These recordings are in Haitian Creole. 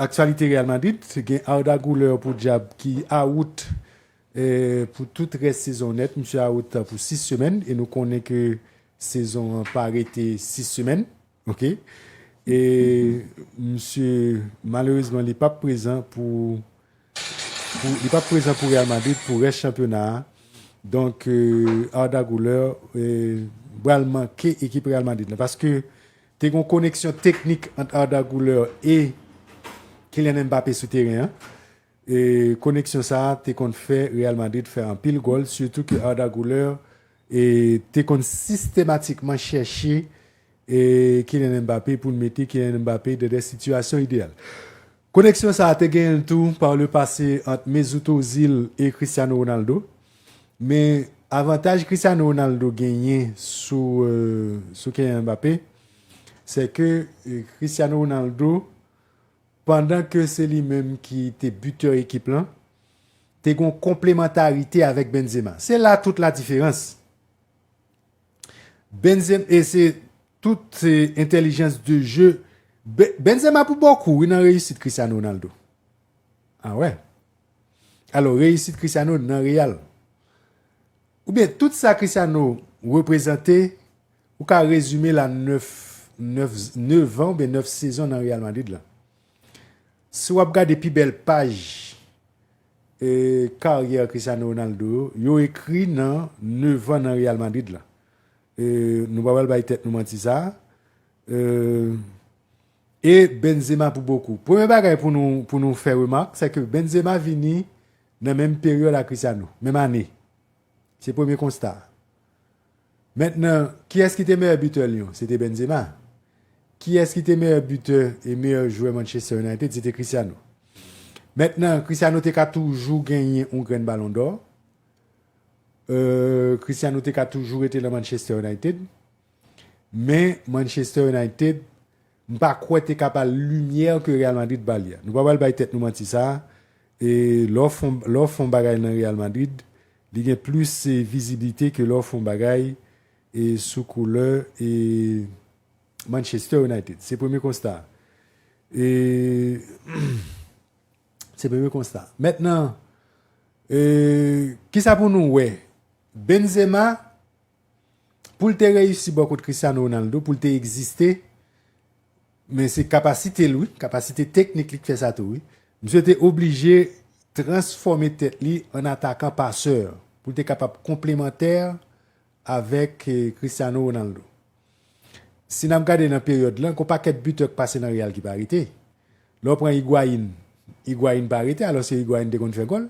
Aktyalite Real Madrid, gen Arda Guler pou dyab ki awout pou tout rès sezon an nèt, misye awout pou 6 semèn e nou konnen ke sezon an pa rete 6 semèn ok e misye malerezman li pap prezan pou li pap prezan pou Real Madrid pou rès chanpyona a donk Arda Guler pral manke ekip Real Madrid la paske Te gen yon koneksyon teknik ant Arda Guler e Kylian Mbappé sou teren an. Koneksyon sa a te konn fè Real Madrid fè anpil gòl, sitou ke Arda Guler te konn sistematikman chèche Kylian Mbappé pou l mete Kylian Mbappé dèdè sitiyasyon ideyal. Koneksyon sa a te genyen l tou par le passé ant Mesut Ozil e Cristiano Ronaldo, men avantaj Cristiano Ronaldo genyen sou sou Keyan Mbappé sè ke Cristiano Ronaldo pandan ke se li menm ki te butè ekip lan te gon konplemantarite avèk Benzema. Se la tout la diferans. Benzema e se tout se entelijans de jeu Benzema pou bokou wi nan reyisit Cristiano Ronaldo a wè alò reyisit Cristiano nan Real ou byen tout sa Cristiano reprezante ou ka rezime la 9 9 9 an ou byen 9 sezon nan Real Madrid la Si wap gade pi bèl paj karyè Cristiano Ronaldo yo, yo ekri nan 9 an nan Real Madrid la. Nou pa pral bay tèt nou manti sa. E Benzema pou bokou. Premye bagay pou nou fè remak, se ke Benzema vini nan menm peryòd a Cristiano, menm ane. Se premye konsta. Mentnan, kiyès ki te meyè bitè Lyon? Se te Benzema. Kiyès ki te meyè bitè e meyè jwè Manchester United? Se te Cristiano. Mentnan, Cristiano te ka toujou genyen yon grenn Balon dò. Cristiano te ka toujou rete nan Manchester United. Men, Manchester United. M pa kwè te ka bal limyè ke Real Madrid ba li a. Nou pa pral bay tèt nou manti sa e lè w fon lè w fon bagay nan Real Madrid li gen plis viziblite ke lè w fon bagay e sou koulè e Manchester United. Se premye konsta a. E se premye konsta a. Mentnan e kisa pou nou wè Benzema Poul te reyisi bò kot Cristiano Ronaldo, poul te egziste, men se kapasite l wi, kapasite teknik li k fè sa tou wi. Misye te oblije transfòme tèt li an atakan pasè, poul te kapab konplemantè avèk Cristiano Ronaldo. Si nap gade nan peryòd lan, gon pakèt bitè k pase nan Real ki pa rete. Lè w pran Higuain, Higuain pa rete alòske Higuain te konn fè gòl.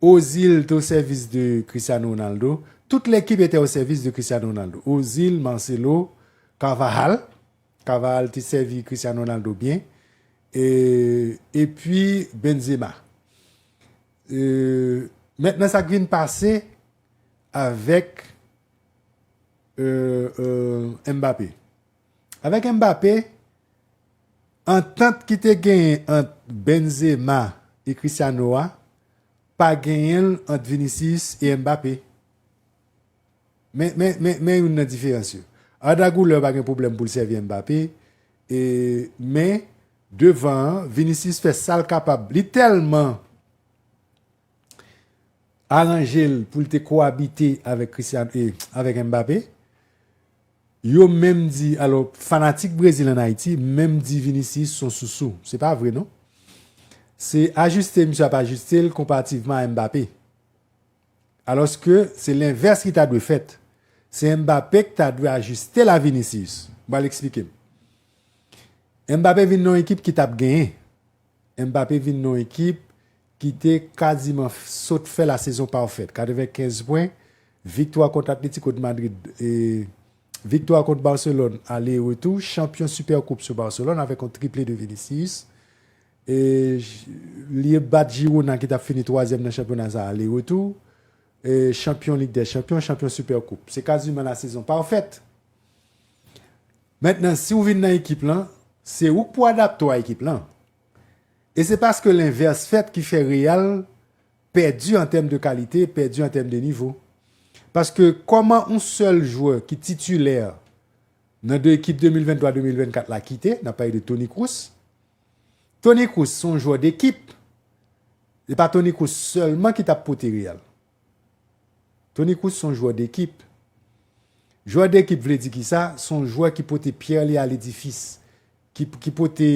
Ozil te o sèvis de Cristiano Ronaldo, tout lekip etè o sèvis de Cristiano Ronaldo, Ozil, Marcelo, Carvajal, Carvajal te sèvi Cristiano Ronaldo byen, e epi Benzema. E mentnan sa k vin pase avèk Mbappé. Avèk Mbappé, antant ki te genyen ant Benzema e Cristiano a pa genyen l ant Vinicius e Mbappé. Men youn nan diferans yo. Arda Guler pa gen pwoblèm pou l sèvi Mbappé, men devan an, Vinicius fè sa l kapab. Li tèlman aranje l pou l te kowabite avèk Mbappé, Yo menm di alò fanatik Brezil an Ayiti menm di Vinicius son sousou. Se pa vre non. Se ajuste misye ap ajuste l konparativman a Mbappé. Alòske se lenvès ki ta dwe fèt. Se Mbappé ki ta dwe ajuste l a Vinicius. M pral eksplike m. Mbappé vin nan yon ekip ki t ap genyen. Mbappé vin nan yon ekip ki te kaziman sot fè lasezon pafèt, 95 pwen, viktwa kont Atlético de Madrid, viktwa kont Barcelone ale e retou, chanpyon Supercoupe sou Barcelone avèk yon triple de Vinicius. Li bat Girona ki tap fini twazyèm nan chanpyona sa ale e retou, chanpyon Lig dè Chanpyon, chanpyon Supercoupe. Se kaziman lasezon pafèt. Mentnan si w vin nan ekip lan, se ou k pou adapte w a ekip lan. E se paske lenvès fèt ki fè Real pèdi an tèm de kalite, pèdi an tèm de nivo. Paske kòman yon sèl jwè ki titilè nan de ekip 2023, 2024 la kite, n ap pale de Toni Kroos. Toni Kroos se yon jwè dekip, se pa Toni Kroos sèlman ki t ap pote Real. Toni Kroos son jwè dekip. Jwè dekip vle di kisa? Son jwè ki pote pyè li a ledifis. Ki pote,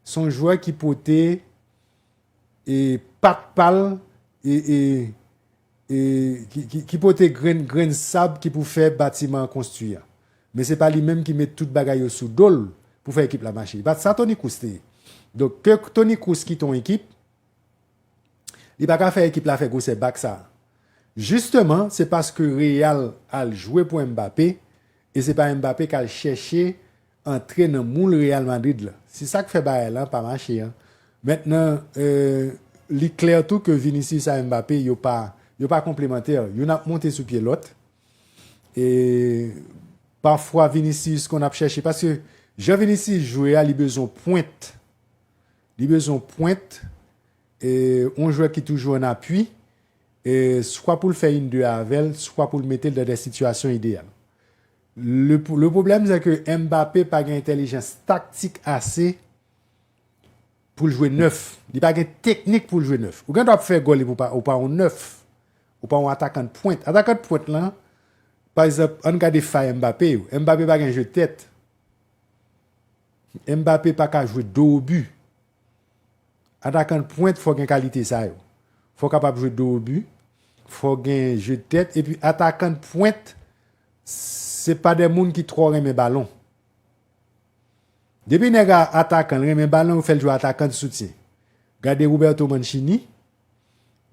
son jwè ki pote e pat pal e ki pote grenn sab ki pou fè batiman an konstwi a. Men se pa li menm ki met tout bagay yo sou dol pou fè ekip la mache. E pat sa Toni Kroos te ye. Donk ke Toni Kroos kite yon ekip. Li paka fè ekip la fè gwosè bak sa. Jisteman se paske Real al jwe pou Mbappé e se pa Mbappé kal chèche antre nan moul Real Madrid la. Se sak fè bagay lan pa mache an. Mentnan li klè tou ke Vinicius a Mbappé yo pa yo pa konplemantè. Youn ap monte sou pye lòt e pafwa Vinicius konn ap chèche paske jan Vinicius jwe a li bezwen pwent Li bezwen yon pwent, yon jwè ki toujou an apui, swa pou l fè yn de avè l, swa pou l mete l dan dè sitiyasyon ideyal. Le pwoblèm se ke Mbappé pa gen entèlijans taktik ase pou l jwe nèf. Li pa gen teknik pou l jwe nèf. Ou gen dwa fè gòl epi ou pa yon nèf. Ou pa yon atakan de pwent. Atakan de pwent lan, pa egzanp, ann gade fay Mbappé yo. Mbappé pa gen je tèt. Mbappé paka jwe dos au but. Atakan pwent fò gen kalite sa yo. Fò kapab jwe dos au but, fò gen jeu de tête epi atakan pwent se pa de moun ki twò renmen balon. Depi nèg a atakan l renmen balon yo fè l jwe atakan de soutyen. Gade Roberto Mancini,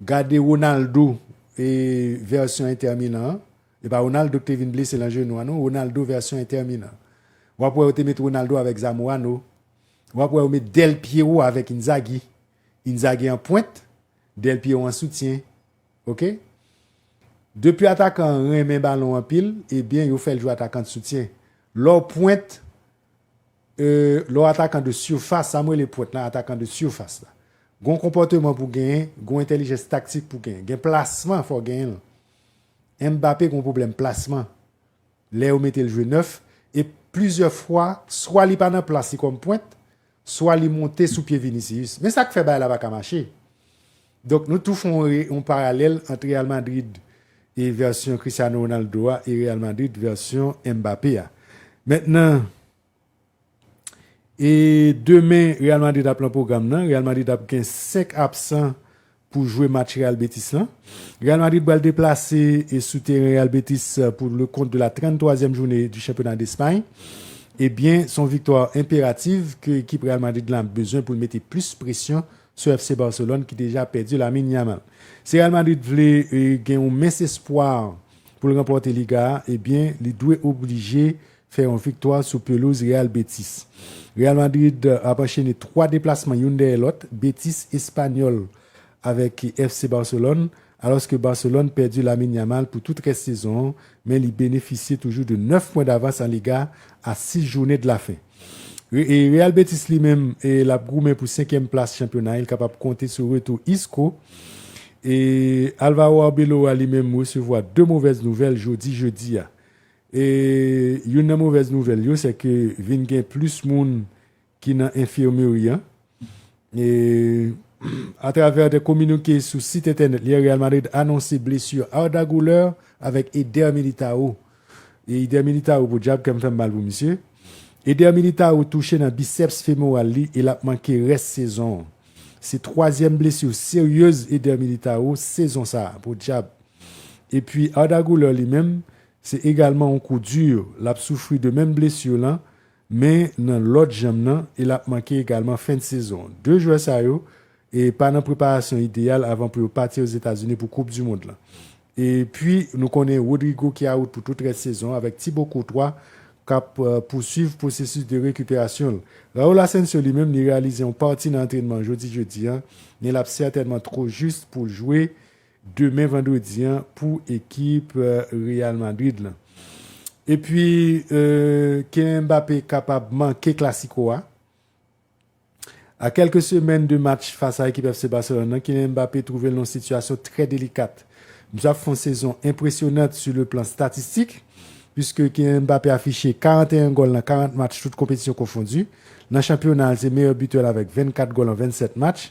gade Ronaldo vèsyon Inter Milan an. E pa Ronaldo ki te vin blese lan jenou an non, Ronaldo vèsyon Inter Milan. Wap wè yo te met Ronaldo avèk Zamorano, wap wè yo met Del Piero avèk Inzaghi, Inzaghi an pwent, Del Piero an soutyen. Ok. Depi atakan an renmen balon anpil, ebyen yo fèl jwe atakan de soutyen. Lè w pwent, e, lè w atakan de surface, sa mwen rele pwent lan, atakan de surface la. Gon konpòteman pou genyen, gon entèlijens taktik pou genyen. Gen plasman fò genyen l. Mbappé gon pwoblèm plasman lè yo mete l jwe nèf e plizyè fwa swa li pa nan plas li kòm pwent swa li monte sou pye Vinicius men sa k fè bagay la pa ka mache. Donk nou tou fè yon paralèl ant Real Madrid e vèsyon Cristiano Ronaldo a e Real Madrid vèsyon Mbappé a. Mentnan. E demen Real Madrid ap lan pwogram nan, Real Madrid ap gen 5 absan pou jwe match Real Betis lan. Real Madrid pral deplase e sou teren Real Betis pou le kont de la 33 zièm joune di chanpyona Despay. E byen son viktwa enperativ ke ekip Real Madrid lan ap bezwen pou l mete plis presyon sou FC Barcelone ki deja pèdi Lamine Yamal. Si Real Madrid vle gen yon mens espwa pou l ranpòte Liga a, e byen li dwe oblije fè yon viktwa sou pelouz Real Betis. Real Madrid ap anchene 3 deplasman youn dèyè lòt, Betis, Espanyòl avèk FC Barcelone, alòske Barcelone pèdi Lamine Yamal pou tout rès sezon an, men li benefisye toujou de 9 pwen davans an Liga a 6 jounen de la fen. Real Betis li menm l ap goumen pou senkyèm plas chanpyona an, l kapab konte sou retou Isco. Alvaro Arbeloa li menm resevwa 2 movèz nouvèl jodi jedi a. E youn nan movèz nouvèl yo se ke vin gen plis moun ki nan enfirmeri an. E atravè de kominike sou sit entènèt li, Real Madrid anonse blesu Arda Guler avèk Eder Militao. E Eder Militao podyab kèm fèm mal pou misye. Eder Militao touche nan biceps femoral li e lap manke rès sezon an. Se twazyèm blesu seryez Eder Militao sezon sa, podyab. Epi Arda Guler li menm Se egalman yon kou dur, lap soufri de menm blessure lan men nan lòt janm nan e lap manke egalman fen de sezon. 2 jwè sa yo e pa nan preparasyon ideyal avan pou yo pati Ozetazini pou koup du mond lan. E pwi nou konnen Rodrygo ki out pou tout rès sezon avèk Thibaut Courtois kap pousuiv pwosesus de rekuperasyon l. Raul Asensio li menm li reyalize yon pati nan antrenman jodi jedi an men lap sètènman two jus pou l jwe demen vandredi an pou ekip Real Madrid lan. Epi Kylian Mbappé kapab manke klasiko a. A kèlke semèn de match fas a ekip FC Barcelone lan, Kylian Mbappé twouve l nan yon sitiyasyon trè delikat. Misye ap fè yon sezon enpresyonant sou le plan statistik, puiske Kylian Mbappé afiche 41 gòl nan 40 match tout konpetisyon konfondi. Nan chanpyona a, l se meyè bitè l avèk 24 gòl an 27 match.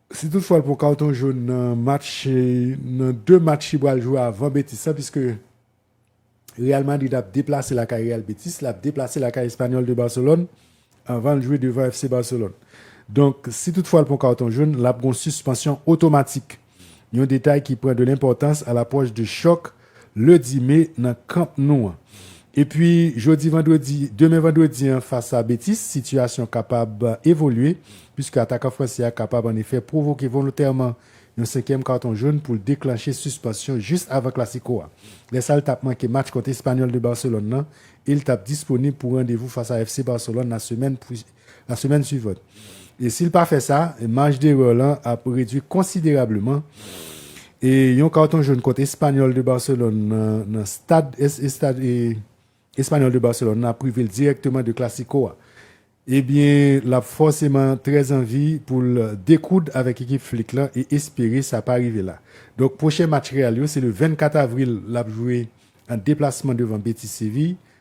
Si tout fwa l pran kawton jòn nan match nan 2 match li pral jwe avan Betis la piske Real Madrid ap deplase lakay Real Betis lap deplase lakay Espanyòl de Barcelone avan l jwe devan FC Barcelone. Donk si tout fwa l pran kawton jòn lap gon sispansyon otomatik. Yon detay ki pran de lenpòtans a lapwòch de chòk Ledi me nan kanp nou an. Epi jodi vandredi, demen vandredi an fas a Betis, sitiyasyon kapab evolye puiske atakan fransè a kapab an efè pwovoke volontèman yon senkyèm karton jòn pou l deklanche sispansyon jis avan Klasiko a. Lè sa l t ap manke match kont Espanyòl de Barcelone lan e l t ap disponib pou randevou fas a FC Barcelone nan semèn la semèn suivant. E si l pa fè sa, maj derè w lan ap redwi konsiderableman. E yon karton jòn kont Espanyòl de Barcelone nan stad estad Espanyòl de Barcelone lan ap prive l dirèkteman de Klasiko a. Ebyen l ap fòseman trè anvi pou l dekoud avèk ekip Flick lan e espere sa pa rive la. Donk pwochen match Real yo se le 24 avril l ap jwe an deplasman devan Betis Séville.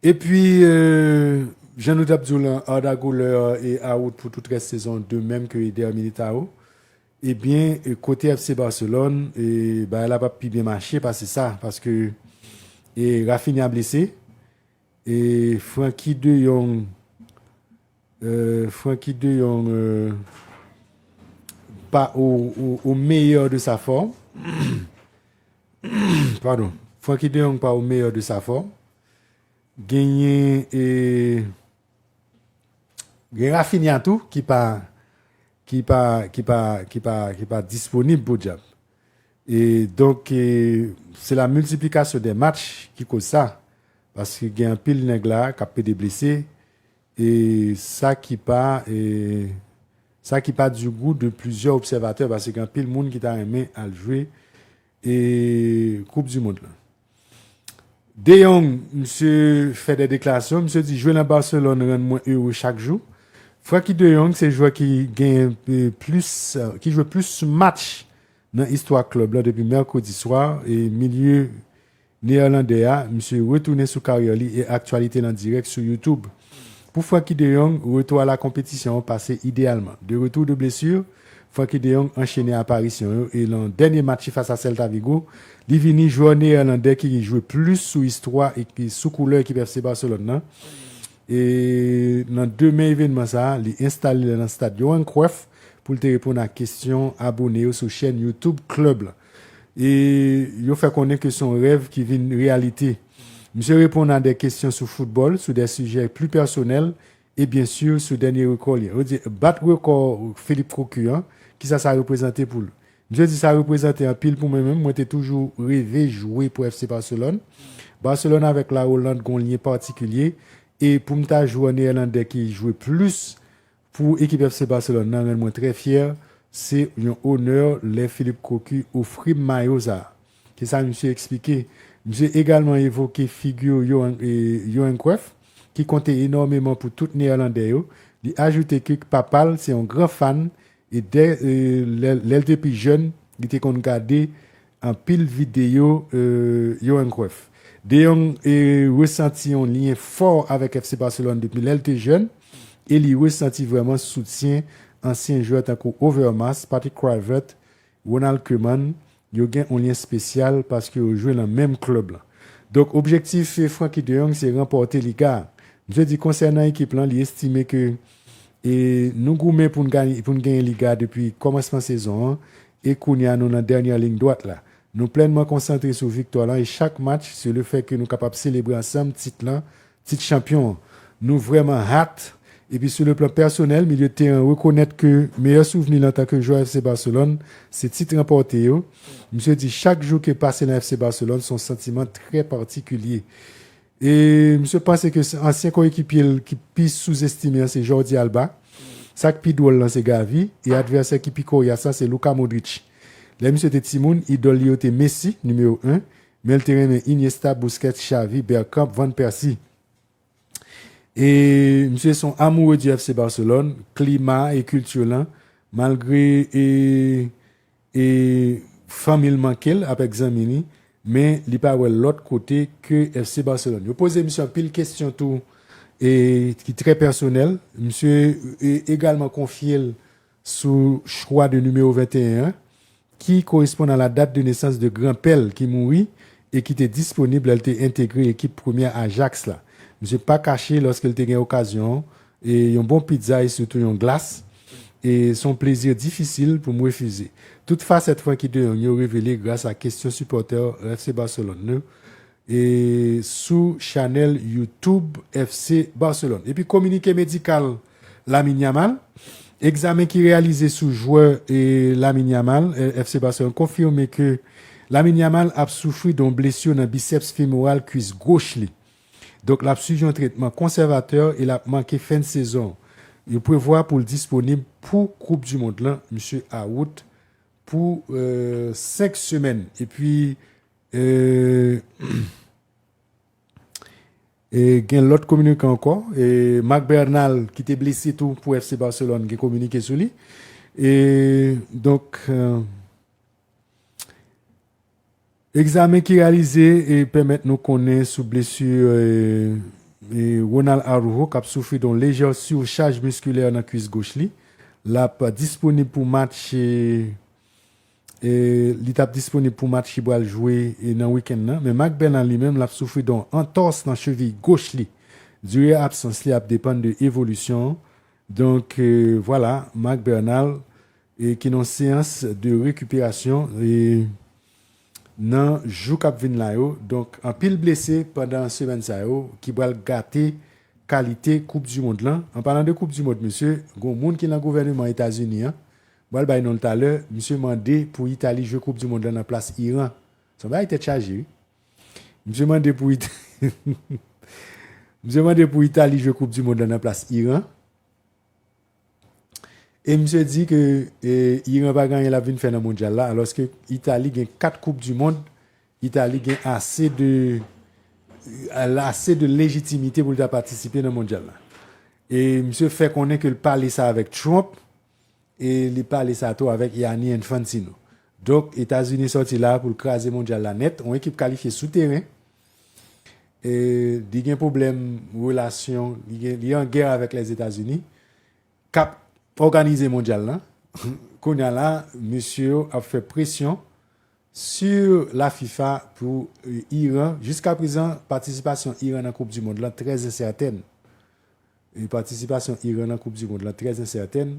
Epi jan nou tap diw lan Arda Guler e out pou tout rès sezon de mèm ke Eder Militao ebyen kote FC Barcelone bagay la pap pi byen mache pase sa paske Raphinha blese e Franky de Jong Franky de Jong pa o meyè de sa fòm Pardon. Francky de Jong pa au meilleur de sa forme. Genyen e gen Raphinha tou ki pa ki pa ki pa ki pa ki pa disponib podyab. E donk e se la multiplication des matchs ki koz sa. Paske gen anpil nèg la kap pede blese. E sa ki pa e sa ki pa du goût de plusieurs observateurs pase gen anpil moun ki ta renmen al jwe e koup du mond lan. De Jong misye fè de deklarasyon, misye di jwe lan Barcelone rann mwen heureux chak jou. Francky de Jong se jwè ki genyen plus ki jwe plus match nan istwa club lan depi mercredi soir e milieu Neerlandè a, misye retounen sou karyè li e aktyalite l an dirèk sou YouTube. Pou Frenkie de Jong, retou a la konpetisyon an pase ideyalman. De retour de blessure, Frenkie de Jong anchene aparisyon yo e lan dènye match li fas a Celta Vigo, li vini jwè neerlandè ki jwe plis sou istwa e sou koulè ekip FC Barcelone lan. E lan demen evenman sa a, li enstale l lan stad Johan Cruyff pou l te reponn a kesyon abone yo sou chèn YouTube klèb lan. e yo fè konnen ke son rèv ki vin reyalite. Misye reponn a de kesyon sou foutbòl, sou de sijè pli pèsonèl e byen sur sou dènye rekò li an. Yo di, bat rekò Philippe Cocu an, kisa sa reprezante pou l? Misye di, sa reprezante anpil pou mwen menm, mwen te toujou reve jwe pou FC Barcelone. Barcelone avèk La Hollande gon lyen patikilye e pou m ta jwe an Neerlandè ki jwe plis Pou ekip FC Barcelone nan rann mwen trè fyè, se yon onè lè Philippe Cocu ofri m mayo sa a. Se sa misye eksplike. Misye egalman evoke figi Johan Cruyff ki konte enòmeman pou tout Neyèlandè yo. Li ajoute ke papa l se yon gran fan e dè lè l te pi jèn li te konn gade Anpil videyo Yohan Cruyff. De Jong resanti yon lyen fò avèk FC Barcelone depi lè l te jèn e li resanti vrèman soutyen ansyen jwè tankou Overmars, Patrick Kluivert, Ronald Koeman. Yo gen yon lyen spesyal paske yo jwe nan menm klèb lan. Donk objektif Frenkie de Jong se ranpòte Liga a. Misye di konsènan ekip lan li estime ke E nou goumen pou n genyen Liga depi kòmansman sezon an e kounya nou nan dènyè ling dwat la. Nou plènman konsantre sou viktwa lan e chak match se le fè ke nou kapab selebre ansanm tit lan, tit chanpyon an. Nou vrèman hat! Epi sou le plan pèsonèl, milye teren rekonèt ke meyè souvni l antanke jwè FC Barcelone se tit ranpòte yo. Misye di chak jou ke pase lan FC Barcelone son santiman trè patikilye. E misye panse ke se ansyen koyekipye l ki pi souzestime an se Jordi Alba. Sa k pi dwòl lan se Gavi e advèsè ki pi koryas la se Luka Modric. Lè misye te timoun, idòl li yo te Messi, nimewo 1, men l te renmen Iniesta, Busquets, Xavi, Bergkamp, Van Persie. E misye se yon amoure di FC Barcelone, klima e kilti lan, malgre e. E fanmi l manke l avèk zanmi li, men li pa wè l lòt kote ke FC Barcelone. Yo poze misye anpil kesyon tou e ki trè pèsonèl. Misye egalman konfye l sou chwa de nimewo 21 an ki koresponn a la dat de nesans de gran pè l ki mouri e ki te disponib lè l te entegre ekip premyè Ajax la. Misye pa kache lòske l te gen okazyon E yon bon pizza e sitou yon glas e se yon plezi difisil pou m refize. Tout fasèt Franky de Jong yo revele gras a kesyon sipòtè FC Barcelone yo e sou chanèl YouTube FC Barcelone. Epi kominike medikal Lamine Yamal, Egzamen ki reyalize sou jwè e Lamine Yamal FC Barcelone konfime ke Lamine Yamal ap soufri don blesur nan biceps femoral kwis goch li. Donk l ap swiv yon tretman konsèvatè e l ap manke fen sezon. Yo prevwa pou l disponib pou koup du mond lan, misye out pou 5 semèn epi gen lòt kominike ankò. Marc Bernal ki te blese tou pou FC Barcelone gen kominike sou li. Donk. Egzamen ki reyalize pèmèt nou konnen sou blesu Ronald Araujo kap soufri don lejè surchaj musculaire nan kwis goch li. Lap disponib pou match li tap disponib pou match li pral jwe nan weekend nan. Men Marc Bernal li menm lap soufri don antòs nan cheviy goch li. Dure absans li ap depann de evolisyon. Donk vwala Marc Bernal ki nan seyans de rekuperasyon. nan jou kap vin la yo, donk anpil blese pandan semèn sa yo ki pral gate kalite koup du mond lan, an palan de koup du mond mesye gon moun ki lan gouvèneman etazini an, bal bay nonl talè, misye mande pou itali jwe koup du mond lan nan plas iran, son bagay tèt chaje wi, misye mande pou misye mande pou itali jwe koup du mond lan nan plas iran. E misye di ke Iran pa gen anyen lap vin fè nan mondyal la alòske Itali gen 4 koup du mond, Itali gen ase de ase de lejitimite pou li ta patisipe nan mondyal la. E misye fè konnen ke li pale sa avèk Trump e li pale sa tou avèk Ianni Infantino. Donk Etazini sòti la pou li kraze mondyal la nèt, yon ekip kalifye sou teren. li gen pwoblèm relasyon, li an gè avèk Lèzetazini, k ap òganize mondyal la. Kounye a la, mesye yo ap fè presyon sou la fifa pou Iran. Jiska prezan, patisipasyon Iran nan koup di mond la trè ensèten. Patisipasyon Iran nan koup di mond la trè ensèten.